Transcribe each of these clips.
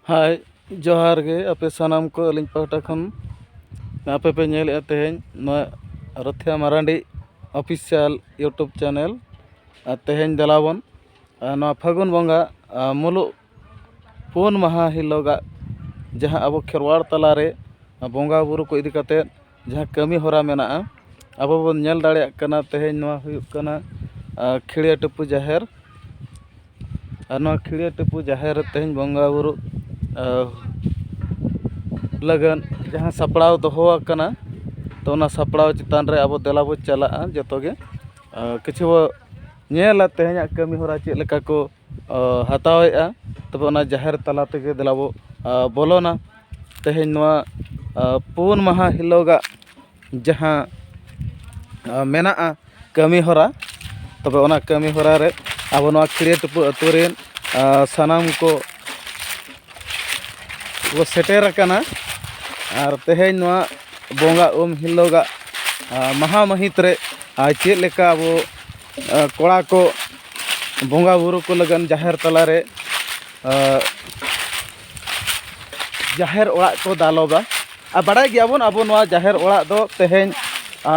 ᱦᱳᱭ ᱡᱚᱦᱟᱨ ᱜᱮ ᱟᱯᱮ ᱥᱟᱱᱟᱢ ᱠᱚ ᱟᱹᱞᱤᱧ ᱯᱟᱦᱴᱟ ᱠᱷᱚᱱ ᱟᱯᱮ ᱯᱮ ᱧᱮᱞᱮᱜᱼᱟ ᱛᱮᱦᱮᱧ ᱱᱚᱣᱟ Rothia Marandi official YouTube channel ᱟᱨ ᱛᱮᱦᱮᱧ ᱫᱮᱞᱟ ᱵᱚᱱ ᱱᱚᱣᱟ ᱯᱷᱟᱹᱜᱩᱱ ᱵᱚᱸᱜᱟ ᱢᱩᱞᱩᱜ ᱯᱩᱱ ᱢᱟᱦᱟ ᱦᱤᱞᱳᱜᱟᱜ ᱡᱟᱦᱟᱸ ᱟᱵᱚ ᱠᱷᱮᱨᱣᱟᱲ ᱛᱟᱞᱟᱨᱮ ᱵᱚᱸᱜᱟᱼᱵᱩᱨᱩ ᱠᱚ ᱤᱫᱤ ᱠᱟᱛᱮᱫ ᱡᱟᱦᱟᱸ ᱠᱟᱹᱢᱤ ᱦᱚᱨᱟ ᱢᱮᱱᱟᱜᱼᱟ ᱟᱵᱚ ᱵᱚᱱ ᱧᱮᱞ ᱫᱟᱲᱮᱭᱟᱜ ᱠᱟᱱᱟ ᱛᱮᱦᱮᱧ ᱱᱚᱣᱟ ᱦᱩᱭᱩᱜ ᱠᱟᱱᱟ ᱠᱷᱤᱲᱭᱟᱹ ᱴᱩᱯᱩ ᱡᱟᱦᱮᱨ ᱟᱨ ᱱᱚᱣᱟ ᱠᱷᱤᱲᱭᱟᱹ ᱴᱩᱯᱩ ᱡᱟᱦᱮᱨ ᱨᱮ ᱛᱮᱦᱮᱧ ᱵᱚᱸᱜᱟ ᱵᱳᱨᱳ ᱞᱟᱹᱜᱤᱫ ᱡᱟᱦᱟᱸ ᱥᱟᱯᱲᱟᱣ ᱫᱚᱦᱚ ᱟᱠᱟᱱᱟ ᱛᱚ ᱚᱱᱟ ᱥᱟᱯᱲᱟᱣ ᱪᱮᱛᱟᱱ ᱨᱮ ᱟᱵᱚ ᱫᱮᱞᱟ ᱵᱚᱱ ᱪᱟᱞᱟᱜᱼᱟ ᱡᱚᱛᱚᱜᱮ ᱠᱤᱪᱷᱩ ᱧᱮᱞᱟ ᱛᱮᱦᱮᱧᱟᱜ ᱠᱟᱹᱢᱤ ᱦᱚᱨᱟ ᱪᱮᱫ ᱞᱮᱠᱟ ᱠᱚ ᱦᱟᱛᱟᱣᱮᱫᱼᱟ ᱛᱚᱵᱮ ᱚᱱᱟ ᱡᱟᱦᱮᱨ ᱛᱟᱞᱟ ᱛᱮᱜᱮ ᱫᱮᱞᱟ ᱵᱚ ᱵᱚᱞᱚᱱᱟ ᱛᱮᱦᱮᱧ ᱱᱚᱣᱟ ᱯᱩᱱ ᱢᱟᱦᱟ ᱦᱤᱞᱳᱜᱟᱜ ᱡᱟᱦᱟᱸ ᱢᱮᱱᱟᱜᱼᱟ ᱠᱟᱹᱢᱤ ᱦᱚᱨᱟ ᱛᱚᱵᱮ ᱚᱱᱟ ᱠᱟᱹᱢᱤ ᱦᱚᱨᱟ ᱨᱮ ᱟᱵᱚ ᱱᱚᱣᱟ ᱠᱷᱤᱨᱭᱟᱹ ᱴᱩᱯᱩ ᱟᱹᱛᱩ ᱨᱮᱱ ᱥᱟᱱᱟᱢ ᱠᱚ ᱠᱚ ᱥᱮᱴᱮᱨ ᱟᱠᱟᱱᱟ ᱟᱨ ᱛᱮᱦᱮᱧ ᱱᱚᱣᱟ ᱵᱚᱸᱜᱟ ᱩᱢ ᱦᱤᱞᱳᱜᱟᱜ ᱢᱟᱦᱟ ᱢᱟᱹᱦᱤᱛ ᱨᱮ ᱟᱨ ᱪᱮᱫ ᱞᱮᱠᱟ ᱵᱚ ᱠᱚᱲᱟ ᱠᱚ ᱵᱚᱸᱜᱟ ᱵᱩᱨᱩ ᱠᱚ ᱞᱟᱹᱜᱤᱫ ᱡᱟᱦᱮᱨ ᱛᱟᱞᱟ ᱨᱮ ᱡᱟᱦᱮᱨ ᱚᱲᱟᱜ ᱠᱚ ᱫᱟᱞᱚᱵᱟ ᱟᱨ ᱵᱟᱲᱟᱭ ᱜᱮᱭᱟ ᱵᱚᱱ ᱟᱵᱚ ᱱᱚᱣᱟ ᱡᱟᱦᱮᱨ ᱚᱲᱟᱜ ᱫᱚ ᱛᱮᱦᱮᱧ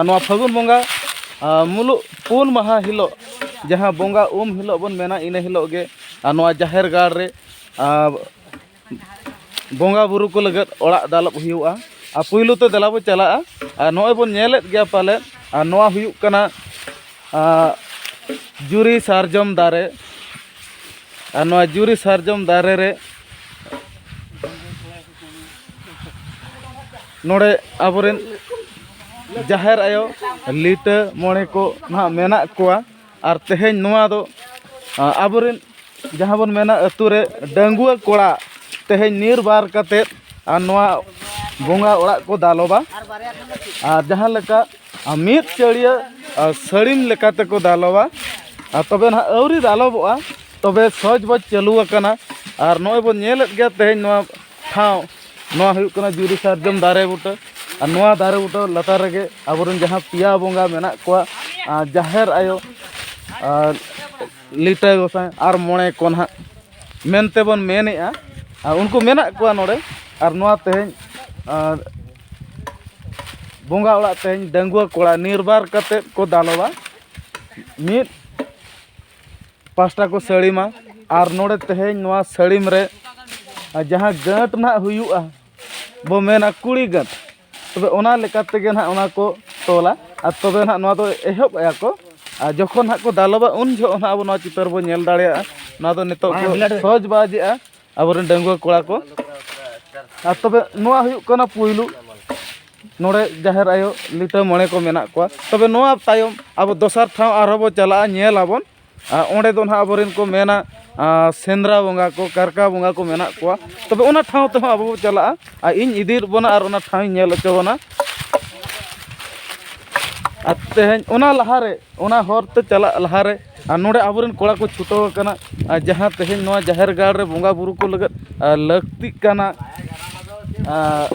ᱱᱚᱣᱟ ᱯᱷᱟᱹᱜᱩᱱ ᱵᱚᱸᱜᱟ ᱢᱩᱞᱩᱜ ᱯᱩᱱ ᱢᱟᱦᱟ ᱦᱤᱞᱳᱜ ᱡᱟᱦᱟᱸ ᱵᱚᱸᱜᱟ ᱩᱢ ᱦᱤᱞᱳᱜ ᱵᱚᱱ ᱢᱮᱱᱟ ᱤᱱᱟᱹ ᱦᱤᱞᱳᱜ ᱜᱮ ᱟᱨ ᱱᱚᱣᱟ ᱡᱟᱦᱮᱨ ᱜᱟᱲ ᱨᱮ ᱵᱚᱸᱜᱟ ᱵᱩᱨᱩ ᱠᱚ ᱞᱟᱹᱜᱤᱫ ᱚᱲᱟᱜ ᱫᱟᱞᱚᱵ ᱦᱩᱭᱩᱜᱼᱟ ᱟᱨ ᱯᱳᱭᱞᱳ ᱛᱮ ᱫᱮᱞᱟ ᱵᱚᱱ ᱪᱟᱞᱟᱜᱼᱟ ᱟᱨ ᱱᱚᱜᱼᱚᱭ ᱵᱚᱱ ᱧᱮᱞᱮᱫ ᱜᱮᱭᱟ ᱯᱟᱞᱮᱫ ᱟᱨ ᱱᱚᱣᱟ ᱦᱩᱭᱩᱜ ᱠᱟᱱᱟ ᱡᱩᱨᱤ ᱥᱟᱨᱡᱚᱢ ᱫᱟᱨᱮ ᱟᱨ ᱱᱚᱣᱟ ᱡᱩᱨᱤ ᱥᱟᱨᱡᱚᱢ ᱫᱟᱨᱮ ᱨᱮ ᱱᱚᱰᱮ ᱟᱵᱚᱨᱮᱱ ᱡᱟᱦᱮᱨ ᱟᱭᱳ ᱞᱤᱴᱟᱹ ᱢᱚᱬᱮ ᱠᱚ ᱱᱟᱦᱟᱜ ᱢᱮᱱᱟᱜ ᱠᱚᱣᱟ ᱟᱨ ᱛᱮᱦᱮᱧ ᱱᱚᱣᱟ ᱫᱚ ᱟᱵᱚ ᱨᱮᱱ ᱡᱟᱦᱟᱸ ᱵᱚᱱ ᱢᱮᱱᱟ ᱟᱹᱛᱩ ᱨᱮ ᱰᱟᱺᱜᱩᱣᱟᱹ ᱠᱚᱲᱟ ᱛᱮᱦᱮᱧ ᱱᱤᱨᱵᱟᱨ ᱠᱟᱛᱮᱫ ᱟᱨ ᱱᱚᱣᱟ ᱵᱚᱸᱜᱟ ᱚᱲᱟᱜ ᱠᱚ ᱫᱟᱞᱚᱵᱟ ᱟᱨ ᱡᱟᱦᱟᱸ ᱞᱮᱠᱟ ᱢᱤᱫ ᱪᱟᱹᱲᱭᱟᱹ ᱥᱟᱹᱲᱤᱢ ᱞᱮᱠᱟ ᱛᱮᱠᱚ ᱫᱟᱞᱚᱵᱟ ᱟᱨ ᱛᱚᱵᱮ ᱱᱟᱦᱟᱜ ᱟᱹᱣᱨᱤ ᱫᱟᱞᱚᱵᱚᱜᱼᱟ ᱛᱚᱵᱮ ᱥᱚᱦᱚᱡᱽ ᱵᱚᱡᱽ ᱪᱟᱹᱞᱩ ᱟᱠᱟᱱᱟ ᱟᱨ ᱱᱚᱜᱼᱚᱭ ᱵᱚᱱ ᱧᱮᱞᱮᱫ ᱜᱮᱭᱟ ᱛᱮᱦᱮᱧ ᱱᱚᱣᱟ ᱴᱷᱟᱶ ᱱᱚᱣᱟ ᱦᱩᱭᱩᱜ ᱠᱟᱱᱟ ᱡᱩᱨᱤ ᱥᱟᱨᱡᱚᱢ ᱫᱟᱨᱮ ᱵᱩᱴᱟᱹ ᱟᱨ ᱱᱚᱣᱟ ᱫᱟᱨᱮ ᱵᱩᱴᱟᱹ ᱞᱟᱛᱟᱨ ᱨᱮᱜᱮ ᱟᱵᱚᱨᱮᱱ ᱡᱟᱦᱟᱸ ᱯᱮᱭᱟ ᱵᱚᱸᱜᱟ ᱢᱮᱱᱟᱜ ᱠᱚᱣᱟ ᱡᱟᱦᱮᱨ ᱟᱭᱳ ᱟᱨ ᱞᱤᱴᱟᱹ ᱜᱚᱸᱥᱟᱭ ᱟᱨ ᱢᱚᱬᱮ ᱠᱚ ᱱᱟᱦᱟᱜ ᱢᱮᱱᱛᱮ ᱵᱚᱱ ᱢᱮᱱᱮᱫᱼᱟ ᱟᱨ ᱩᱱᱠᱩ ᱢᱮᱱᱟᱜ ᱠᱚᱣᱟ ᱱᱚᱰᱮ ᱟᱨ ᱱᱚᱣᱟ ᱛᱮᱦᱮᱧ ᱟᱨ ᱵᱚᱸᱜᱟ ᱚᱲᱟᱜ ᱛᱮᱦᱮᱧ ᱰᱟᱺᱜᱩᱣᱟᱹ ᱠᱚᱲᱟ ᱱᱤᱨᱵᱟᱨ ᱠᱟᱛᱮᱫ ᱠᱚ ᱫᱟᱞᱚᱵᱟ ᱢᱤᱫ ᱯᱟᱥᱴᱟ ᱠᱚ ᱥᱟᱹᱲᱤᱢᱟ ᱟᱨ ᱱᱚᱰᱮ ᱛᱮᱦᱮᱧ ᱱᱚᱣᱟ ᱥᱟᱹᱲᱤᱢ ᱨᱮ ᱡᱟᱦᱟᱸ ᱜᱟᱹᱴ ᱱᱟᱦᱟᱜ ᱦᱩᱭᱩᱜᱼᱟ ᱵᱚ ᱢᱮᱱᱟ ᱠᱩᱲᱤ ᱜᱟᱹᱴ ᱛᱚᱵᱮ ᱚᱱᱟ ᱞᱮᱠᱟ ᱛᱮᱜᱮ ᱱᱟᱦᱟᱜ ᱚᱱᱟ ᱠᱚ ᱛᱚᱞᱟ ᱟᱨ ᱛᱚᱵᱮ ᱱᱟᱦᱟᱜ ᱱᱚᱣᱟ ᱫᱚ ᱮᱦᱚᱵ ᱮᱫᱟ ᱠᱚ ᱟᱨ ᱡᱚᱠᱷᱚᱱ ᱱᱟᱦᱟᱜ ᱠᱚ ᱫᱟᱞᱚᱵᱟ ᱩᱱ ᱡᱚᱦᱚᱜ ᱱᱟᱦᱟᱜ ᱟᱵᱚ ᱱᱚᱣᱟ ᱪᱤᱛᱟᱹᱨ ᱵᱚᱱ ᱧᱮᱞ ᱫᱟᱲᱮᱭᱟᱜᱼᱟ ᱱᱚᱣᱟ ᱫᱚ ᱱᱤᱛᱚᱜ ᱠᱚ ᱥᱚᱦᱚᱡᱽ ᱵᱟᱡᱽ ᱮᱫᱟ ᱟᱵᱚᱨᱮᱱ ᱰᱟᱺᱜᱩᱣᱟᱹ ᱠᱚᱲᱟ ᱠᱚ ᱟᱨ ᱛᱚᱵᱮ ᱱᱚᱣᱟ ᱦᱩᱭᱩᱜ ᱠᱟᱱᱟ ᱯᱩᱭᱞᱩ ᱱᱚᱰᱮ ᱡᱟᱦᱮᱨ ᱟᱭᱳ ᱞᱤᱴᱟᱹ ᱢᱚᱬᱮ ᱠᱚ ᱢᱮᱱᱟᱜ ᱠᱚᱣᱟ ᱛᱚᱵᱮ ᱱᱚᱣᱟ ᱛᱟᱭᱚᱢ ᱟᱵᱚ ᱫᱚᱥᱟᱨ ᱴᱷᱟᱶ ᱟᱨᱦᱚᱸ ᱵᱚᱱ ᱪᱟᱞᱟᱜᱼᱟ ᱧᱮᱞ ᱟᱵᱚᱱ ᱟᱨ ᱚᱸᱰᱮ ᱫᱚ ᱦᱟᱸᱜ ᱟᱵᱚᱨᱮᱱ ᱠᱚ ᱢᱮᱱᱟ ᱥᱮᱸᱫᱽᱨᱟ ᱵᱚᱸᱜᱟ ᱠᱚ ᱠᱟᱨᱠᱟ ᱵᱚᱸᱜᱟ ᱠᱚ ᱢᱮᱱᱟᱜ ᱠᱚᱣᱟ ᱛᱚᱵᱮ ᱚᱱᱟ ᱴᱷᱟᱶ ᱛᱮᱦᱚᱸ ᱟᱵᱚ ᱵᱚᱱ ᱪᱟᱞᱟᱜᱼᱟ ᱟᱨ ᱤᱧ ᱤᱫᱤᱭᱮᱫ ᱵᱚᱱᱟ ᱟᱨ ᱚᱱᱟ ᱴᱷᱟᱶ ᱤᱧ ᱧᱮᱞ ᱦᱚᱪᱚ ᱵᱚᱱᱟ ᱟᱨ ᱛᱮᱦᱮᱧ ᱚᱱᱟ ᱞᱟᱦᱟᱨᱮ ᱚᱱᱟ ᱦᱚᱨᱛᱮ ᱪᱟᱞᱟᱜ ᱞᱟᱦᱟᱨᱮ ᱟᱨ ᱱᱚᱰᱮ ᱟᱵᱚ ᱨᱮᱱ ᱠᱚᱲᱟ ᱠᱚ ᱪᱷᱩᱴᱟᱹᱣ ᱟᱠᱟᱱᱟ ᱟᱨ ᱡᱟᱦᱟᱸ ᱛᱮᱦᱮᱧ ᱱᱚᱣᱟ ᱡᱟᱦᱮᱨ ᱜᱟᱲ ᱨᱮ ᱵᱚᱸᱜᱟᱼᱵᱩᱨᱩ ᱠᱚ ᱞᱟᱹᱜᱤᱫ ᱞᱟᱹᱠᱛᱤᱜ ᱠᱟᱱᱟ ᱟᱨ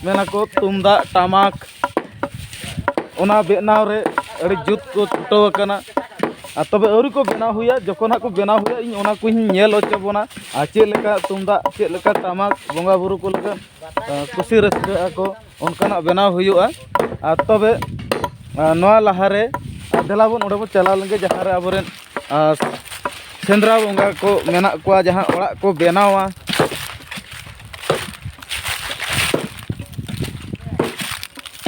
ᱢᱮᱱᱟ ᱠᱚ ᱛᱩᱢᱫᱟᱜ ᱴᱟᱢᱟᱠ ᱚᱱᱟ ᱵᱮᱱᱟᱣ ᱨᱮ ᱟᱹᱰᱤ ᱡᱩᱛ ᱠᱚ ᱪᱷᱩᱴᱟᱹᱣ ᱟᱠᱟᱱᱟ ᱟᱨ ᱛᱚᱵᱮ ᱟᱹᱣᱨᱤ ᱠᱚ ᱵᱮᱱᱟᱣ ᱦᱩᱭᱟ ᱡᱚᱠᱷᱚᱱ ᱦᱟᱸᱜ ᱠᱚ ᱵᱮᱱᱟᱣ ᱦᱩᱭᱟ ᱤᱧ ᱚᱱᱟ ᱠᱚᱧ ᱧᱮᱞ ᱦᱚᱪᱚ ᱵᱚᱱᱟ ᱟᱨ ᱪᱮᱫ ᱞᱮᱠᱟ ᱛᱩᱢᱫᱟᱜ ᱪᱮᱫ ᱞᱮᱠᱟ ᱴᱟᱢᱟᱠ ᱵᱚᱸᱜᱟᱼᱵᱩᱨᱩ ᱠᱚ ᱞᱟᱹᱜᱤᱫ ᱠᱩᱥᱤ ᱨᱟᱹᱥᱠᱟᱹᱜ ᱟᱠᱚ ᱚᱱᱠᱟᱱᱟᱜ ᱵᱮᱱᱟᱣ ᱦᱩᱭᱩᱜᱼᱟ ᱟᱨ ᱛᱚᱵᱮ ᱱᱚᱣᱟ ᱞᱟᱦᱟᱨᱮ ᱫᱮᱞᱟ ᱵᱚᱱ ᱚᱸᱰᱮ ᱵᱚᱱ ᱪᱟᱞᱟᱣ ᱞᱮᱱᱜᱮ ᱡᱟᱦᱟᱸ ᱨᱮ ᱟᱵᱚ ᱨᱮᱱ ᱥᱮᱸᱫᱽᱨᱟ ᱵᱚᱸᱜᱟ ᱠᱚ ᱢᱮᱱᱟᱜ ᱠᱚᱣᱟ ᱡᱟᱦᱟᱸ ᱚᱲᱟᱜ ᱠᱚ ᱵᱮᱱᱟᱣᱟ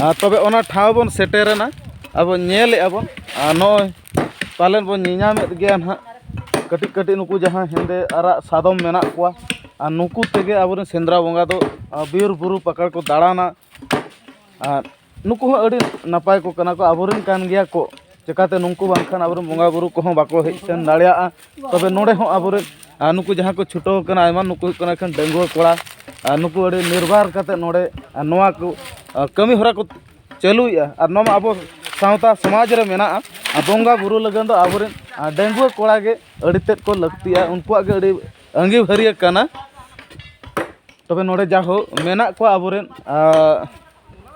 ᱟᱨ ᱛᱚᱵᱮ ᱚᱱᱟ ᱴᱷᱟᱶ ᱵᱚᱱ ᱥᱮᱴᱮᱨᱮᱱᱟ ᱟᱵᱚ ᱧᱮᱞᱮᱫᱼᱟ ᱵᱚᱱ ᱟᱨ ᱱᱚᱜᱼᱚᱭ ᱯᱟᱞᱮᱱ ᱵᱚᱱ ᱧᱮᱧᱟᱢᱮᱫ ᱜᱮᱭᱟ ᱦᱟᱸᱜ ᱠᱟᱹᱴᱤᱡ ᱠᱟᱹᱴᱤᱡ ᱱᱩᱠᱩ ᱡᱟᱦᱟᱸ ᱦᱮᱸᱫᱮ ᱟᱨᱟᱜ ᱥᱟᱫᱚᱢ ᱢᱮᱱᱟᱜ ᱠᱚᱣᱟ ᱟᱨ ᱱᱩᱠᱩ ᱛᱮᱜᱮ ᱟᱵᱚ ᱨᱮᱱ ᱥᱮᱸᱫᱽᱨᱟ ᱵᱚᱸᱜᱟ ᱫᱚ ᱵᱤᱨᱼᱵᱩᱨᱩ ᱯᱟᱠᱟᱲ ᱠᱚ ᱫᱟᱬᱟᱱᱟ ᱟᱨ ᱱᱩᱠᱩ ᱦᱚᱸ ᱟᱹᱰᱤ ᱱᱟᱯᱟᱭ ᱠᱚ ᱠᱟᱱᱟ ᱠᱚ ᱟᱵᱚ ᱨᱮᱱ ᱠᱟᱱ ᱜᱮᱭᱟ ᱠᱚ ᱪᱤᱠᱟᱹᱛᱮ ᱱᱩᱠᱩ ᱵᱟᱝᱠᱷᱟᱱ ᱟᱵᱚ ᱨᱮᱱ ᱵᱚᱸᱜᱟᱼᱵᱩᱨᱩ ᱠᱚᱦᱚᱸ ᱵᱟᱠᱚ ᱦᱮᱡ ᱥᱮᱱ ᱫᱟᱲᱮᱭᱟᱜᱼᱟ ᱛᱚᱵᱮ ᱱᱚᱰᱮ ᱦᱚᱸ ᱟᱵᱚ ᱨᱮᱱ ᱟᱨ ᱱᱩᱠᱩ ᱡᱟᱦᱟᱸᱭ ᱠᱚ ᱪᱷᱩᱴᱟᱹᱣ ᱠᱟᱱᱟ ᱟᱭᱢᱟ ᱱᱩᱠᱩ ᱦᱩᱭᱩᱜ ᱠᱟᱱᱟ ᱠᱚ ᱰᱟᱺᱜᱩᱣᱟᱹ ᱠᱚᱲᱟ ᱟᱨ ᱱᱩᱠᱩ ᱟᱹᱰᱤ ᱱᱤᱨᱵᱟᱨ ᱠᱟᱛᱮᱫ ᱱᱚᱰᱮ ᱱᱚᱣᱟ ᱠᱚ ᱠᱟᱹᱢᱤᱦᱚᱨᱟ ᱠᱚ ᱪᱟᱹᱞᱩᱭᱮᱫᱼᱟ ᱟᱨ ᱱᱚᱣᱟ ᱢᱟ ᱟᱵᱚ ᱥᱟᱶᱛᱟ ᱥᱚᱢᱟᱡᱽ ᱨᱮ ᱢᱮᱱᱟᱜᱼᱟ ᱟᱨ ᱵᱚᱸᱜᱟᱼᱵᱩᱨᱩ ᱞᱟᱹᱜᱤᱫ ᱫᱚ ᱟᱵᱚ ᱨᱮᱱ ᱰᱟᱺᱜᱩᱣᱟᱹ ᱠᱚᱲᱟ ᱜᱮ ᱟᱹᱰᱤ ᱛᱮᱫ ᱠᱚ ᱞᱟᱹᱠᱛᱤᱭᱟ ᱩᱱᱠᱩᱣᱟᱜ ᱜᱮ ᱟᱹᱰᱤ ᱟᱺᱜᱤᱵᱷᱟᱹᱨᱤᱭᱟᱹ ᱠᱟᱱᱟ ᱛᱚᱵᱮ ᱱᱚᱰᱮ ᱡᱟ ᱦᱳᱠ ᱢᱮᱱᱟᱜ ᱠᱚᱣᱟ ᱟᱵᱚ ᱨᱮᱱ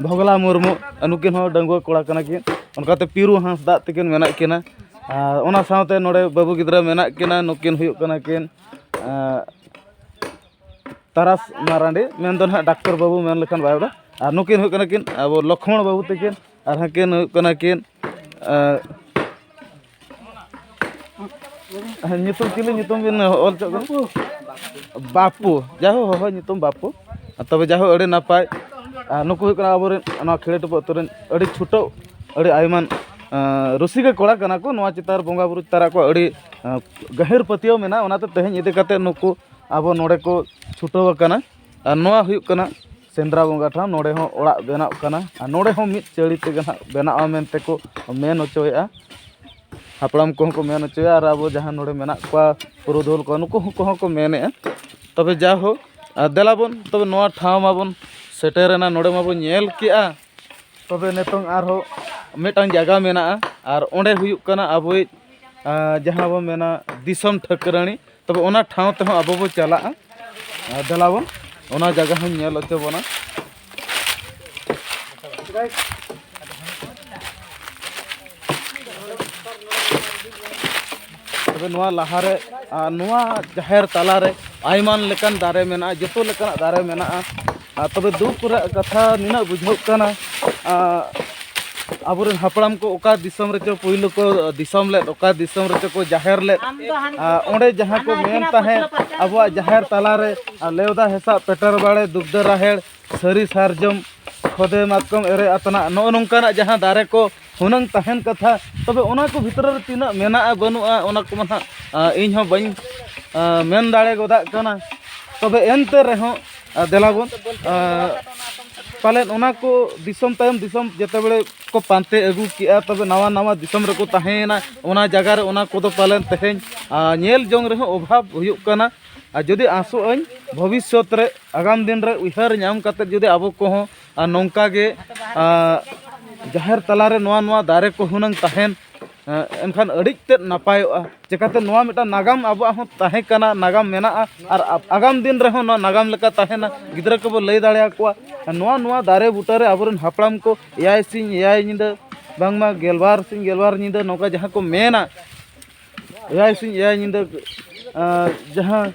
ᱵᱷᱚᱜᱽᱱᱟ ᱢᱩᱨᱢᱩ ᱱᱩᱠᱤᱱ ᱦᱚᱸ ᱰᱟᱺᱜᱩᱣᱟᱹ ᱠᱚᱲᱟ ᱠᱟᱱᱟ ᱠᱤᱱ ᱚᱱᱠᱟᱛᱮ ᱯᱤᱨᱩ ᱦᱟᱸᱥᱫᱟ ᱛᱟᱹᱠᱤᱱ ᱢᱮᱱᱟᱜ ᱠᱤᱱᱟ ᱟᱨ ᱚᱱᱟ ᱥᱟᱶᱛᱮ ᱱᱚᱰᱮ ᱵᱟᱹᱵᱩ ᱜᱤᱫᱽᱨᱟᱹ ᱢᱮᱱᱟᱜ ᱠᱤᱱᱟ ᱱᱩᱠᱤᱱ ᱦᱩᱭᱩᱜ ᱠᱟᱱᱟ ᱠᱤᱱ ᱛᱟᱨᱟᱥ ᱢᱟᱨᱟᱱᱰᱤ ᱢᱮᱱ ᱫᱚ ᱦᱟᱸᱜ ᱰᱟᱠᱛᱚᱨ ᱵᱟᱹᱵᱩ ᱢᱮᱱ ᱞᱮᱠᱷᱟᱱ ᱵᱟᱭ ᱨᱚᱲᱟ ᱟᱨ ᱱᱩᱠᱤᱱ ᱦᱩᱭᱩᱜ ᱠᱟᱱᱟ ᱠᱤᱱ ᱟᱵᱚ ᱞᱚᱠᱷᱢᱚᱬ ᱵᱟᱹᱵᱩ ᱛᱟᱹᱠᱤᱱ ᱟᱨ ᱦᱟᱹᱠᱤᱱ ᱦᱩᱭᱩᱜ ᱠᱟᱱᱟ ᱠᱤᱱ ᱧᱩᱛᱩᱢ ᱪᱤᱞᱤ ᱧᱩᱛᱩᱢ ᱵᱤᱱ ᱚᱞ ᱦᱚᱪᱚ ᱠᱟᱱᱟ ᱵᱟᱯᱩ ᱡᱟᱭᱦᱳ ᱦᱚᱦᱚ ᱧᱩᱛᱩᱢ ᱵᱟᱯᱩ ᱛᱚᱵᱮ ᱡᱟᱭᱦᱳ ᱟᱹᱰᱤ ᱱᱟᱯᱟᱭ ᱟᱨ ᱱᱩᱠᱩ ᱦᱩᱭᱩᱜ ᱠᱟᱱᱟ ᱟᱵᱚᱨᱮᱱ ᱱᱚᱣᱟ ᱠᱷᱮᱲᱮ ᱴᱩᱯᱩ ᱟᱹᱛᱩ ᱨᱮᱱ ᱟᱹᱰᱤ ᱪᱷᱩᱴᱟᱹᱣ ᱟᱹᱰᱤ ᱟᱭᱢᱟᱱ ᱨᱩᱥᱤᱠᱟ ᱠᱚᱲᱟ ᱠᱟᱱᱟ ᱠᱚ ᱱᱚᱣᱟ ᱪᱮᱛᱟᱱ ᱨᱮ ᱵᱚᱸᱜᱟᱼᱵᱩᱨᱩ ᱪᱮᱛᱟᱱ ᱨᱮ ᱟᱠᱚᱣᱟᱜ ᱟᱹᱰᱤ ᱜᱟᱹᱦᱤᱨ ᱯᱟᱹᱛᱭᱟᱹᱣ ᱢᱮᱱᱟᱜᱼᱟ ᱚᱱᱟᱛᱮ ᱛᱮᱦᱮᱧ ᱤᱫᱤ ᱠᱟᱛᱮᱫ ᱱᱩᱠᱩ ᱟᱵᱚ ᱱᱚᱰᱮ ᱠᱚ ᱪᱷᱩᱴᱟᱹᱣ ᱟᱠᱟᱱᱟ ᱟᱨ ᱱᱚᱣᱟ ᱦᱩᱭᱩᱜ ᱠᱟᱱᱟ ᱥᱮᱸᱫᱽᱨᱟ ᱵᱚᱸᱜᱟ ᱴᱷᱟᱶ ᱱᱚᱰᱮ ᱦᱚᱸ ᱚᱲᱟᱜ ᱵᱮᱱᱟᱜ ᱠᱟᱱᱟ ᱟᱨ ᱱᱚᱰᱮ ᱦᱚᱸ ᱢᱤᱫ ᱪᱟᱹᱲᱤ ᱛᱮᱜᱮ ᱦᱟᱸᱜ ᱵᱮᱱᱟᱜᱼᱟ ᱢᱮᱱᱛᱮ ᱠᱚ ᱢᱮᱱ ᱦᱚᱪᱚᱭᱮᱜᱼᱟ ᱦᱟᱯᱲᱟᱢ ᱠᱚᱦᱚᱸ ᱠᱚ ᱢᱮᱱ ᱦᱚᱪᱚᱭᱟ ᱟᱨ ᱟᱵᱚ ᱡᱟᱦᱟᱸ ᱱᱚᱰᱮ ᱢᱮᱱᱟᱜ ᱠᱚᱣᱟ ᱯᱩᱨᱩᱫᱷᱩᱞ ᱠᱚ ᱱᱩᱠᱩ ᱠᱚᱦᱚᱸ ᱠᱚ ᱢᱮᱱᱮᱜᱼᱟ ᱛᱚᱵᱮ ᱡᱟ ᱦᱳᱠ ᱫᱮᱞᱟ ᱵᱚᱱ ᱛᱚᱵᱮ ᱱᱚᱣᱟ ᱴᱷᱟᱶ ᱢᱟᱵᱚᱱ ᱥᱮᱴᱮᱨᱮᱱᱟ ᱱᱚᱰᱮ ᱢᱟᱵᱚᱱ ᱧᱮᱞ ᱠᱮᱜᱼᱟ ᱛᱚᱵᱮ ᱱᱤᱛᱚᱝ ᱟᱨᱦᱚᱸ ᱢᱤᱫᱴᱟᱱ ᱡᱟᱭᱜᱟ ᱢᱮᱱᱟᱜᱼᱟ ᱟᱨ ᱚᱸᱰᱮ ᱦᱩᱭᱩᱜ ᱠᱟᱱᱟ ᱟᱵᱚᱭᱤᱡ ᱡᱟᱦᱟᱸ ᱵᱚᱱ ᱢᱮᱱᱟ ᱫᱤᱥᱚᱢ ᱴᱷᱟᱹᱠᱨᱟᱹᱱᱤ ᱛᱚᱵᱮ ᱚᱱᱟ ᱴᱷᱟᱶ ᱛᱮᱦᱚᱸ ᱟᱵᱚ ᱵᱚ ᱪᱟᱞᱟᱜᱼᱟ ᱟᱨ ᱫᱮᱞᱟ ᱵᱚᱱ ᱚᱱᱟ ᱡᱟᱭᱜᱟ ᱦᱚᱸᱧ ᱧᱮᱞ ᱦᱚᱪᱚ ᱵᱚᱱᱟ ᱛᱚᱵᱮ ᱱᱚᱣᱟ ᱞᱟᱦᱟᱨᱮ ᱱᱚᱣᱟ ᱡᱟᱦᱮᱨ ᱛᱟᱞᱟᱨᱮ ᱟᱭᱢᱟ ᱞᱮᱠᱟᱱ ᱫᱟᱨᱮ ᱢᱮᱱᱟᱜᱼᱟ ᱡᱚᱛᱚ ᱞᱮᱠᱟᱱᱟᱜ ᱫᱟᱨᱮ ᱢᱮᱱᱟᱜᱼᱟ ᱟᱨ ᱛᱚᱵᱮ ᱫᱩᱠ ᱨᱮᱭᱟᱜ ᱠᱟᱛᱷᱟ ᱱᱤᱱᱟᱹᱜ ᱵᱩᱡᱷᱟᱹᱜ ᱠᱟᱱᱟ ᱟᱵᱚᱨᱮᱱ ᱦᱟᱯᱲᱟᱢ ᱠᱚ ᱚᱠᱟ ᱫᱤᱥᱚᱢ ᱨᱮᱪᱚ ᱯᱳᱭᱞᱳ ᱠᱚ ᱫᱤᱥᱚᱢ ᱞᱮᱫ ᱚᱠᱟ ᱫᱤᱥᱚᱢ ᱨᱮᱪᱚ ᱠᱚ ᱡᱟᱦᱮᱨ ᱞᱮᱫ ᱚᱸᱰᱮ ᱡᱟᱦᱟᱸ ᱠᱚ ᱢᱮᱱ ᱛᱟᱦᱮᱸᱫ ᱟᱵᱚᱣᱟᱜ ᱡᱟᱦᱮᱨ ᱛᱟᱞᱟᱨᱮ ᱞᱮᱣᱫᱟ ᱦᱮᱥᱟᱜ ᱯᱮᱴᱮᱨ ᱵᱟᱲᱮ ᱫᱩᱜᱽᱫᱟᱹ ᱨᱟᱦᱮᱲ ᱥᱟᱹᱨᱤ ᱥᱟᱨᱡᱚᱢ ᱠᱷᱚᱫᱮ ᱢᱟᱛᱠᱚᱢ ᱮᱨᱮ ᱟᱛᱱᱟᱜ ᱱᱚᱜᱼᱚ ᱱᱚᱝᱠᱟᱱᱟᱜ ᱡᱟᱦᱟᱸ ᱫᱟᱨᱮ ᱠᱚ ᱦᱩᱱᱟᱹᱝ ᱛᱟᱦᱮᱱ ᱠᱟᱛᱷᱟ ᱛᱚᱵᱮ ᱚᱱᱟ ᱠᱚ ᱵᱷᱤᱛᱨᱤ ᱨᱮ ᱛᱤᱱᱟᱹᱜ ᱢᱮᱱᱟᱜᱼᱟ ᱵᱟᱹᱱᱩᱜᱼᱟ ᱚᱱᱟ ᱠᱚᱢᱟ ᱱᱟᱦᱟᱜ ᱤᱧ ᱦᱚᱸ ᱵᱟᱹᱧ ᱢᱮᱱ ᱫᱟᱲᱮ ᱜᱚᱫᱟᱜ ᱠᱟᱱᱟ ᱛᱚᱵᱮ ᱮᱱᱛᱮ ᱨᱮᱦᱚᱸ ᱫᱮᱞᱟ ᱵᱚᱱ ᱯᱟᱞᱮᱫ ᱚᱱᱟ ᱠᱚ ᱫᱤᱥᱚᱢ ᱛᱟᱭᱚᱢ ᱫᱤᱥᱚᱢ ᱡᱮᱛᱮ ᱵᱟᱲᱮ ᱠᱚ ᱯᱟᱱᱛᱮ ᱟᱹᱜᱩ ᱠᱮᱜᱼᱟ ᱛᱚᱵᱮ ᱱᱟᱣᱟ ᱱᱟᱣᱟ ᱫᱤᱥᱚᱢ ᱨᱮᱠᱚ ᱛᱟᱦᱮᱸᱭᱮᱱᱟ ᱚᱱᱟ ᱡᱟᱭᱜᱟ ᱨᱮ ᱚᱱᱟ ᱠᱚᱫᱚ ᱯᱟᱞᱮᱱ ᱛᱮᱦᱮᱧ ᱧᱮᱞ ᱡᱚᱝ ᱨᱮᱦᱚᱸ ᱚᱵᱷᱟᱵᱽ ᱦᱩᱭᱩᱜ ᱠᱟᱱᱟ ᱟᱨ ᱡᱩᱫᱤ ᱟᱥᱚᱜ ᱟᱹᱧ ᱵᱷᱚᱵᱤᱥᱥᱚᱛ ᱨᱮ ᱟᱜᱟᱢ ᱫᱤᱱ ᱨᱮ ᱩᱭᱦᱟᱹᱨ ᱧᱟᱢ ᱠᱟᱛᱮᱫ ᱡᱩᱫᱤ ᱟᱵᱚ ᱠᱚᱦᱚᱸ ᱟᱨ ᱱᱚᱝᱠᱟ ᱜᱮ ᱡᱟᱦᱮᱨ ᱛᱟᱞᱟ ᱨᱮ ᱱᱚᱣᱟ ᱱᱚᱣᱟ ᱫᱟᱨᱮ ᱠᱚ ᱦᱩᱱᱟᱹᱝ ᱛᱟᱦᱮᱱ ᱮᱱᱠᱷᱟᱱ ᱟᱹᱰᱤ ᱛᱮᱫ ᱱᱟᱯᱟᱭᱚᱜᱼᱟ ᱪᱤᱠᱟᱹᱛᱮ ᱱᱚᱣᱟ ᱢᱤᱫᱴᱟᱝ ᱱᱟᱜᱟᱢ ᱟᱵᱚᱣᱟᱜ ᱦᱚᱸ ᱛᱟᱦᱮᱸ ᱠᱟᱱᱟ ᱱᱟᱜᱟᱢ ᱢᱮᱱᱟᱜᱼᱟ ᱟᱨ ᱟᱜᱟᱢ ᱫᱤᱱ ᱨᱮᱦᱚᱸ ᱱᱚᱣᱟ ᱱᱟᱜᱟᱢ ᱞᱮᱠᱟ ᱛᱟᱦᱮᱱᱟ ᱜᱤᱫᱽᱨᱟᱹ ᱠᱚᱵᱚ ᱞᱟᱹᱭ ᱫᱟᱲᱮ ᱟᱠᱚᱣᱟ ᱱᱚᱣᱟ ᱱᱚᱣᱟ ᱫᱟᱨᱮ ᱵᱩᱴᱟᱹ ᱨᱮ ᱟᱵᱚ ᱨᱮᱱ ᱦᱟᱯᱲᱟᱢ ᱠᱚ ᱮᱭᱟᱭ ᱥᱤᱧ ᱮᱭᱟᱭ ᱧᱤᱫᱟᱹ ᱵᱟᱝᱢᱟ ᱜᱮᱞᱵᱟᱨ ᱥᱤᱧ ᱜᱮᱞᱵᱟᱨ ᱧᱤᱫᱟᱹ ᱱᱚᱝᱠᱟ ᱡᱟᱦᱟᱸ ᱠᱚ ᱢᱮᱱᱟ ᱮᱭᱟᱭ ᱥᱤᱧ ᱮᱭᱟᱭ ᱧᱤᱫᱟᱹ ᱡᱟᱦᱟᱸ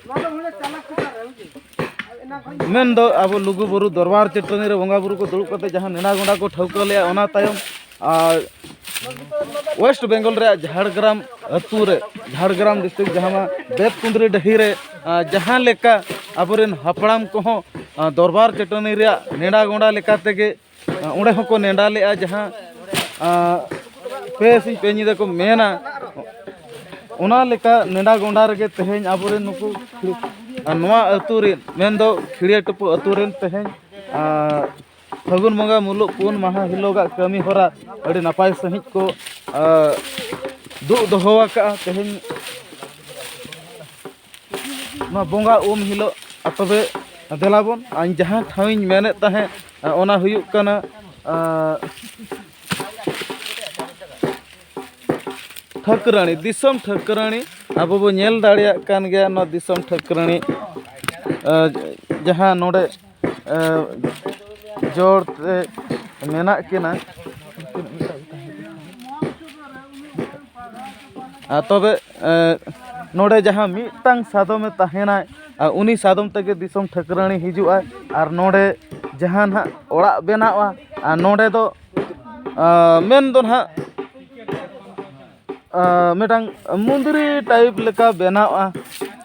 ᱢᱮᱱ ᱫᱚ ᱟᱵᱚ ᱞᱩᱜᱩ ᱵᱩᱨᱩ ᱫᱚᱨᱵᱟᱨ ᱪᱟᱹᱴᱟᱹᱱᱤ ᱨᱮ ᱵᱚᱸᱜᱟ ᱵᱩᱨᱩ ᱠᱚ ᱫᱩᱲᱩᱵ ᱠᱟᱛᱮ ᱡᱟᱦᱟᱸ ᱱᱮᱰᱟ ᱜᱚᱸᱰᱟ ᱠᱚ ᱴᱷᱟᱹᱣᱠᱟᱹ ᱞᱮᱜᱼᱟ ᱚᱱᱟ ᱛᱟᱭᱚᱢ ᱟᱨ ᱳᱭᱮᱥᱴ ᱵᱮᱝᱜᱚᱞ ᱨᱮᱭᱟᱜ ᱡᱷᱟᱲᱜᱨᱟᱢ ᱟᱹᱛᱩ ᱨᱮ ᱡᱷᱟᱲᱜᱨᱟᱢ ᱰᱤᱥᱴᱨᱤᱠᱴ ᱡᱟᱦᱟᱸ ᱵᱮᱛ ᱠᱩᱸᱫᱽᱨᱤ ᱰᱟᱹᱦᱤ ᱨᱮ ᱡᱟᱦᱟᱸ ᱞᱮᱠᱟ ᱟᱵᱚᱨᱮᱱ ᱦᱟᱯᱲᱟᱢ ᱠᱚᱦᱚᱸ ᱫᱚᱨᱵᱟᱨ ᱪᱟᱹᱴᱟᱹᱱᱤ ᱨᱮᱭᱟᱜ ᱱᱮᱰᱟ ᱜᱚᱸᱰᱟ ᱞᱮᱠᱟ ᱛᱮᱜᱮ ᱚᱸᱰᱮ ᱦᱚᱸᱠᱚ ᱱᱮᱰᱟ ᱞᱮᱫᱼᱟ ᱡᱟᱦᱟᱸ ᱯᱮ ᱥᱤᱧ ᱯᱮ ᱧᱤᱫᱟᱹ ᱠᱚ ᱢᱮᱱᱟ ᱚᱱᱟ ᱞᱮᱠᱟ ᱱᱮᱰᱟ ᱜᱚᱸᱰᱟ ᱨᱮᱜᱮ ᱛᱮᱦᱮᱧ ᱟᱵᱚᱨᱮᱱ ᱱᱩᱠᱩ ᱱᱚᱣᱟ ᱟᱹᱛᱩ ᱨᱮᱱ ᱢᱮᱱᱫᱚ ᱠᱷᱤᱲᱤᱭᱟᱹ ᱴᱩᱯᱩ ᱟᱹᱛᱩ ᱨᱮᱱ ᱛᱮᱦᱮᱧ ᱯᱷᱟᱹᱜᱩᱱ ᱵᱚᱸᱜᱟ ᱢᱩᱞᱩᱜ ᱯᱩᱱ ᱢᱟᱦᱟ ᱦᱤᱞᱳᱜᱟᱜ ᱠᱟᱹᱢᱤ ᱦᱚᱨᱟ ᱟᱹᱰᱤ ᱱᱟᱯᱟᱭ ᱥᱟᱺᱦᱤᱡ ᱠᱚ ᱫᱩᱜ ᱫᱚᱦᱚ ᱟᱠᱟᱫᱼᱟ ᱛᱮᱦᱮᱧ ᱱᱚᱣᱟ ᱵᱚᱸᱜᱟ ᱩᱢ ᱦᱤᱞᱳᱜ ᱛᱚᱵᱮ ᱫᱮᱞᱟ ᱵᱚᱱ ᱤᱧ ᱡᱟᱦᱟᱸ ᱴᱷᱟᱶ ᱤᱧ ᱢᱮᱱᱮᱫ ᱛᱟᱦᱮᱸᱫ ᱚᱱᱟ ᱦᱩᱭᱩᱜ ᱠᱟᱱᱟ ᱴᱷᱟᱹᱠᱨᱟᱹᱱᱤ ᱫᱤᱥᱚᱢ ᱴᱷᱟᱹᱠᱨᱟᱹᱱᱤ ᱟᱵᱚ ᱵᱚᱱ ᱧᱮᱞ ᱫᱟᱲᱮᱭᱟᱜ ᱠᱟᱱ ᱜᱮᱭᱟ ᱱᱚᱣᱟ ᱫᱤᱥᱚᱢ ᱴᱷᱟᱹᱠᱨᱟᱹᱱᱤ ᱡᱟᱦᱟᱸ ᱱᱚᱰᱮ ᱡᱚᱲ ᱛᱮ ᱢᱮᱱᱟᱜ ᱠᱤᱱᱟ ᱟᱨ ᱛᱚᱵᱮ ᱱᱚᱰᱮ ᱡᱟᱦᱟᱸ ᱢᱤᱫᱴᱟᱝ ᱥᱟᱫᱚᱢᱮ ᱛᱟᱦᱮᱱᱟᱭ ᱟᱨ ᱩᱱᱤ ᱥᱟᱫᱚᱢ ᱛᱮᱜᱮ ᱫᱤᱥᱚᱢ ᱴᱷᱟᱹᱠᱨᱟᱹᱱᱤ ᱦᱤᱡᱩᱜᱼᱟᱭ ᱟᱨ ᱱᱚᱰᱮ ᱡᱟᱦᱟᱸ ᱱᱟᱦᱟᱜ ᱚᱲᱟᱜ ᱵᱮᱱᱟᱜᱼᱟ ᱟᱨ ᱱᱚᱰᱮ ᱫᱚ ᱢᱮᱱ ᱫᱚ ᱱᱟᱦᱟᱜ ᱢᱤᱫᱴᱟᱝ ᱢᱚᱱᱫᱤᱨᱤ ᱴᱟᱭᱤᱯ ᱞᱮᱠᱟ ᱵᱮᱱᱟᱣᱜᱼᱟ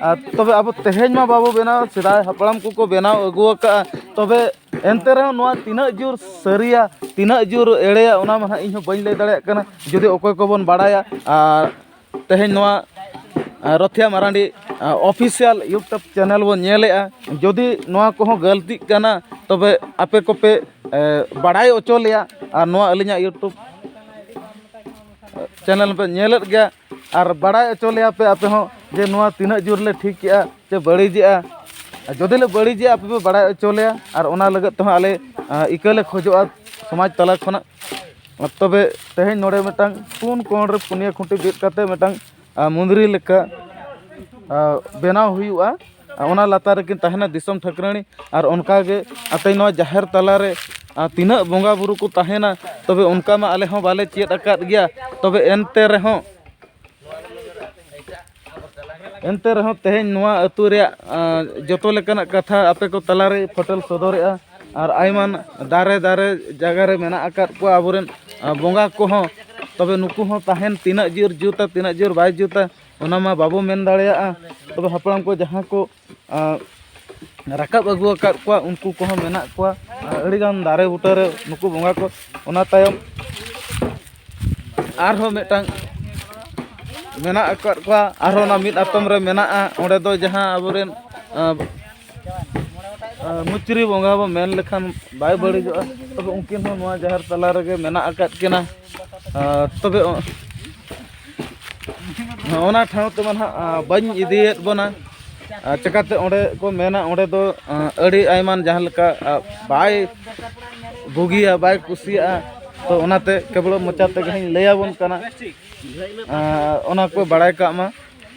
ᱟᱨ ᱛᱚᱵᱮ ᱟᱵᱚ ᱛᱮᱦᱮᱧ ᱢᱟ ᱵᱟᱵᱚ ᱵᱮᱱᱟᱣ ᱥᱮᱫᱟᱭ ᱦᱟᱯᱲᱟᱢ ᱠᱚᱠᱚ ᱵᱮᱱᱟᱣ ᱟᱹᱜᱩ ᱟᱠᱟᱫᱼᱟ ᱛᱚᱵᱮ ᱮᱱᱛᱮ ᱨᱮᱦᱚᱸ ᱱᱚᱣᱟ ᱛᱤᱱᱟᱹᱜ ᱡᱳᱨ ᱥᱟᱹᱨᱤᱭᱟ ᱛᱤᱱᱟᱹᱜ ᱡᱳᱨ ᱮᱲᱮᱭᱟ ᱚᱱᱟ ᱢᱟ ᱦᱟᱸᱜ ᱤᱧᱦᱚᱸ ᱵᱟᱹᱧ ᱞᱟᱹᱭ ᱫᱟᱲᱮᱭᱟᱜ ᱠᱟᱱᱟ ᱡᱩᱫᱤ ᱚᱠᱚᱭ ᱠᱚᱵᱚᱱ ᱵᱟᱲᱟᱭᱟ ᱟᱨ ᱛᱮᱦᱮᱧ ᱱᱚᱣᱟ Rothia Marandi official YouTube channel ᱵᱚᱱ ᱧᱮᱞᱮᱫᱼᱟ ᱡᱩᱫᱤ ᱱᱚᱣᱟ ᱠᱚᱦᱚᱸ ᱜᱟᱹᱞᱛᱤᱜ ᱠᱟᱱᱟ ᱛᱚᱵᱮ ᱟᱯᱮ ᱠᱚᱯᱮ ᱵᱟᱲᱟᱭ ᱦᱚᱪᱚ ᱞᱮᱭᱟ ᱟᱨ ᱱᱚᱣᱟ ᱟᱹᱞᱤᱧᱟᱜ ᱤᱭᱩᱴᱩᱵᱽ ᱪᱮᱱᱮᱞ ᱯᱮ ᱧᱮᱞᱮᱫ ᱜᱮᱭᱟ ᱟᱨ ᱵᱟᱲᱟᱭ ᱦᱚᱪᱚ ᱞᱮᱭᱟ ᱯᱮ ᱟᱯᱮ ᱦᱚᱸ ᱡᱮ ᱱᱚᱣᱟ ᱛᱤᱱᱟᱹᱜ ᱡᱳᱨ ᱞᱮ ᱴᱷᱤᱠ ᱠᱮᱜᱼᱟ ᱥᱮ ᱵᱟᱹᱲᱤᱡᱮᱜᱼᱟ ᱟᱨ ᱡᱩᱫᱤ ᱞᱮ ᱵᱟᱹᱲᱤᱡᱮᱜᱼᱟ ᱟᱯᱮ ᱯᱮ ᱵᱟᱲᱟᱭ ᱦᱚᱪᱚ ᱞᱮᱭᱟ ᱟᱨ ᱚᱱᱟ ᱞᱟᱹᱜᱤᱫ ᱛᱮᱦᱚᱸ ᱟᱞᱮ ᱤᱠᱟᱹ ᱞᱮ ᱠᱷᱚᱡᱚᱜᱼᱟ ᱥᱚᱢᱟᱡᱽ ᱛᱟᱞᱟ ᱠᱷᱚᱱᱟᱜ ᱛᱚᱵᱮ ᱛᱮᱦᱮᱧ ᱱᱚᱰᱮ ᱢᱤᱫᱴᱟᱝ ᱯᱩᱱ ᱠᱚᱬ ᱨᱮ ᱯᱩᱱᱭᱟᱹ ᱠᱷᱩᱱᱴᱤ ᱵᱤᱫ ᱠᱟᱛᱮᱫ ᱢᱤᱫᱴᱟᱝ ᱢᱩᱸᱫᱽᱨᱤ ᱞᱮᱠᱟ ᱵᱮᱱᱟᱣ ᱦᱩᱭᱩᱜᱼᱟ ᱚᱱᱟ ᱞᱟᱛᱟᱨ ᱨᱮᱠᱤᱱ ᱛᱟᱦᱮᱱᱟ ᱫᱤᱥᱚᱢ ᱴᱷᱟᱹᱠᱨᱟᱹᱱᱤ ᱟᱨ ᱚᱱᱠᱟ ᱜᱮ ᱟᱯᱮ ᱱᱚᱣᱟ ᱡᱟᱦᱮᱨ ᱛᱟᱞᱟ ᱨᱮ ᱛᱤᱱᱟᱹᱜ ᱵᱚᱸᱜᱟ ᱵᱳᱨᱳ ᱠᱚ ᱛᱟᱦᱮᱱᱟ ᱛᱚᱵᱮ ᱚᱱᱠᱟ ᱢᱟ ᱟᱞᱮ ᱦᱚᱸ ᱵᱟᱞᱮ ᱪᱮᱫ ᱟᱠᱟᱫ ᱜᱮᱭᱟ ᱛᱚᱵᱮ ᱮᱱᱛᱮ ᱨᱮᱦᱚᱸ ᱮᱱᱛᱮ ᱨᱮᱦᱚᱸ ᱛᱮᱦᱮᱧ ᱱᱚᱣᱟ ᱟᱛᱳ ᱨᱮᱭᱟᱜ ᱡᱚᱛᱚ ᱞᱮᱠᱟᱱᱟᱜ ᱠᱟᱛᱷᱟ ᱟᱯᱮ ᱠᱚ ᱛᱟᱞᱟ ᱨᱮ ᱯᱷᱳᱴᱮᱞ ᱥᱚᱫᱚᱨᱮᱜᱼᱟ ᱟᱨ ᱟᱭᱢᱟ ᱫᱟᱨᱮ ᱫᱟᱨᱮ ᱡᱟᱭᱜᱟ ᱨᱮ ᱢᱮᱱᱟᱜ ᱟᱠᱟᱫ ᱠᱚᱣᱟ ᱟᱵᱚ ᱨᱮᱱ ᱵᱚᱸᱜᱟ ᱠᱚᱦᱚᱸ ᱛᱚᱵᱮ ᱱᱩᱠᱩ ᱦᱚᱸ ᱛᱟᱦᱮᱱ ᱛᱤᱱᱟᱹᱜ ᱡᱳᱨ ᱡᱩᱛᱟ ᱛᱤᱱᱟᱹᱜ ᱡᱳᱨ ᱵᱟᱭ ᱡᱩᱛᱟ ᱚᱱᱟ ᱢᱟ ᱵᱟᱵᱚ ᱢᱮᱱ ᱫᱟᱲᱮᱭᱟᱜᱼᱟ ᱛᱚᱵᱮ ᱦᱟᱯᱲᱟᱢ ᱠᱚ ᱡᱟᱦᱟᱸ ᱠᱚ ᱨᱟᱠᱟᱵ ᱟᱹᱜᱩ ᱟᱠᱟᱫ ᱠᱚᱣᱟ ᱩᱱᱠᱩ ᱠᱚᱦᱚᱸ ᱢᱮᱱᱟᱜ ᱠᱚᱣᱟ ᱟᱨ ᱟᱹᱰᱤ ᱜᱟᱱ ᱫᱟᱨᱮ ᱵᱩᱴᱟᱹ ᱨᱮ ᱱᱩᱠᱩ ᱵᱚᱸᱜᱟ ᱠᱚ ᱚᱱᱟ ᱛᱟᱭᱚᱢ ᱟᱨᱦᱚᱸ ᱢᱤᱫᱴᱟᱝ ᱢᱮᱱᱟᱜ ᱟᱠᱟᱫ ᱠᱚᱣᱟ ᱟᱨᱦᱚᱸ ᱚᱱᱟ ᱢᱤᱫ ᱟᱛᱚᱢ ᱨᱮ ᱢᱮᱱᱟᱜᱼᱟ ᱚᱸᱰᱮ ᱫᱚ ᱡᱟᱦᱟᱸ ᱟᱵᱚ ᱨᱮᱱ ᱢᱩᱪᱨᱤ ᱵᱚᱸᱜᱟ ᱵᱚᱱ ᱢᱮᱱ ᱞᱮᱠᱷᱟᱱ ᱵᱟᱭ ᱵᱟᱹᱲᱤᱡᱚᱜᱼᱟ ᱛᱚᱵᱮ ᱩᱱᱠᱤᱱ ᱦᱚᱸ ᱱᱚᱣᱟ ᱡᱟᱦᱮᱨ ᱛᱟᱞᱟ ᱨᱮᱜᱮ ᱢᱮᱱᱟᱜ ᱟᱠᱟᱫ ᱠᱤᱱᱟ ᱛᱚᱵᱮ ᱚᱱᱟ ᱴᱷᱟᱶ ᱛᱮᱢᱟ ᱱᱟᱦᱟᱜ ᱵᱟᱹᱧ ᱤᱫᱤᱭᱮᱫ ᱵᱚᱱᱟ ᱪᱮᱠᱟᱛᱮ ᱚᱸᱰᱮ ᱠᱚ ᱢᱮᱱᱟ ᱚᱸᱰᱮ ᱫᱚ ᱟᱹᱰᱤ ᱟᱭᱢᱟᱱ ᱡᱟᱦᱟᱸ ᱞᱮᱠᱟ ᱵᱟᱭ ᱵᱩᱜᱤᱭᱟ ᱵᱟᱭ ᱠᱩᱥᱤᱭᱟᱜᱼᱟ ᱛᱚ ᱚᱱᱟᱛᱮ ᱠᱮᱵᱚᱞ ᱢᱚᱪᱟ ᱛᱮᱜᱮ ᱦᱟᱸᱜ ᱤᱧ ᱞᱟᱹᱭᱟᱵᱚᱱ ᱠᱟᱱᱟ ᱚᱱᱟ ᱠᱚ ᱵᱟᱲᱟᱭ ᱠᱟᱜ ᱢᱟ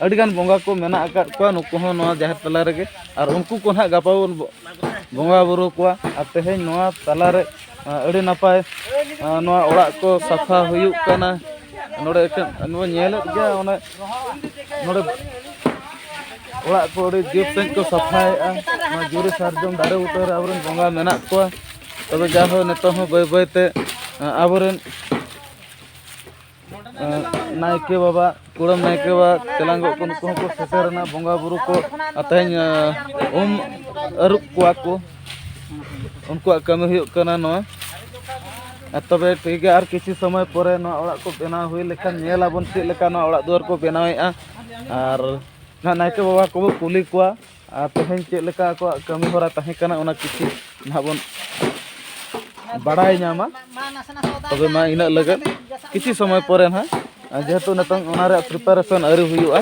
ᱟᱹᱰᱤᱜᱟᱱ ᱵᱚᱸᱜᱟ ᱠᱚ ᱢᱮᱱᱟᱜ ᱟᱠᱟᱫ ᱠᱚᱣᱟ ᱱᱩᱠᱩ ᱦᱚᱸ ᱱᱚᱣᱟ ᱡᱟᱦᱮᱨ ᱛᱟᱞᱟ ᱨᱮᱜᱮ ᱟᱨ ᱩᱱᱠᱩ ᱠᱚ ᱱᱟᱦᱟᱜ ᱜᱟᱯᱟ ᱵᱚᱱ ᱵᱚᱸᱜᱟ ᱵᱩᱨᱩ ᱠᱚᱣᱟ ᱟᱨ ᱛᱮᱦᱮᱧ ᱱᱚᱣᱟ ᱛᱟᱞᱟᱨᱮ ᱟᱹᱰᱤ ᱱᱟᱯᱟᱭ ᱱᱚᱣᱟ ᱚᱲᱟᱜ ᱠᱚ ᱥᱟᱯᱷᱟ ᱦᱩᱭᱩᱜ ᱠᱟᱱᱟ ᱱᱚᱰᱮ ᱮᱠᱮᱱ ᱱᱚᱣᱟ ᱧᱮᱞᱮᱫ ᱜᱮᱭᱟ ᱚᱱᱮ ᱱᱚᱰᱮ ᱚᱲᱟᱜ ᱠᱚ ᱟᱹᱰᱤ ᱡᱩᱛ ᱥᱟᱺᱦᱤᱡ ᱠᱚ ᱥᱟᱯᱷᱟᱭᱮᱫᱼᱟ ᱱᱚᱣᱟ ᱡᱩᱨᱤ ᱥᱟᱨᱡᱚᱢ ᱫᱟᱨᱮ ᱵᱩᱴᱟᱹ ᱨᱮ ᱟᱵᱚᱨᱮᱱ ᱵᱚᱸᱜᱟ ᱢᱮᱱᱟᱜ ᱠᱚᱣᱟ ᱛᱚᱵᱮ ᱡᱟᱭᱦᱳᱠ ᱱᱤᱛᱚᱜ ᱦᱚᱸ ᱵᱟᱹᱭ ᱵᱟᱹᱭᱛᱮ ᱟᱵᱚᱨᱮᱱ ᱱᱟᱭᱠᱮ ᱵᱟᱵᱟ ᱠᱩᱲᱟᱹᱢ ᱱᱟᱭᱠᱮ ᱵᱟᱵᱟ ᱛᱮᱞᱟᱝᱜᱚ ᱠᱚ ᱱᱩᱠᱩ ᱦᱚᱸᱠᱚ ᱥᱮᱴᱮᱨᱮᱱᱟ ᱵᱚᱸᱜᱟ ᱵᱩᱨᱩ ᱠᱚ ᱛᱮᱦᱮᱧ ᱩᱢ ᱟᱹᱨᱩᱵ ᱠᱚᱣᱟ ᱠᱚ ᱩᱱᱠᱩᱣᱟᱜ ᱠᱟᱹᱢᱤ ᱦᱩᱭᱩᱜ ᱠᱟᱱᱟ ᱱᱚᱣᱟ ᱛᱚᱵᱮ ᱴᱷᱤᱠ ᱜᱮᱭᱟ ᱟᱨ ᱠᱤᱪᱷᱩ ᱥᱚᱢᱚᱭ ᱯᱚᱨᱮ ᱱᱚᱣᱟ ᱚᱲᱟᱜ ᱠᱚ ᱵᱮᱱᱟᱣ ᱦᱩᱭ ᱞᱮᱠᱷᱟᱱ ᱧᱮᱞ ᱟᱵᱚᱱ ᱪᱮᱫ ᱞᱮᱠᱟ ᱱᱚᱣᱟ ᱚᱲᱟᱜ ᱫᱩᱣᱟᱹᱨ ᱠᱚ ᱵᱮᱱᱟᱣᱮᱫᱼᱟ ᱟᱨ ᱱᱟᱭᱠᱮ ᱵᱟᱵᱟ ᱠᱚᱵᱚ ᱠᱩᱞᱤ ᱠᱚᱣᱟ ᱟᱨ ᱛᱮᱦᱮᱧ ᱪᱮᱫ ᱞᱮᱠᱟ ᱟᱠᱚᱣᱟᱜ ᱠᱟᱹᱢᱤ ᱦᱚᱨᱟ ᱛᱟᱦᱮᱸ ᱠᱟᱱᱟ ᱚᱱᱟ ᱠᱤᱪᱷᱩ ᱱᱟᱦᱟᱜ ᱵᱚᱱ ᱵᱟᱲᱟᱭ ᱧᱟᱢᱟ ᱛᱚᱵᱮ ᱢᱟ ᱤᱱᱟᱹᱜ ᱞᱟᱹᱜᱤᱫ ᱠᱤᱪᱷᱩ ᱥᱚᱢᱚᱭ ᱯᱚᱨᱮ ᱱᱟᱦᱟᱜ ᱡᱮᱦᱮᱛᱩ ᱱᱤᱛᱚᱝ ᱚᱱᱟ ᱨᱮᱭᱟᱜ ᱯᱨᱤᱯᱟᱨᱮᱥᱚᱱ ᱟᱹᱣᱨᱤ ᱦᱩᱭᱩᱜᱼᱟ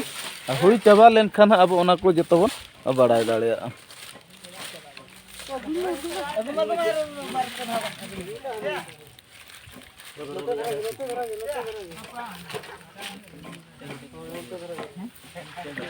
ᱦᱩᱭ ᱪᱟᱵᱟ ᱞᱮᱱᱠᱷᱟᱱ ᱟᱵᱚ ᱚᱱᱟ ᱠᱚ ᱡᱚᱛᱚ ᱵᱚᱱ ᱵᱟᱲᱟᱭ ᱫᱟᱲᱮᱭᱟᱜᱼᱟ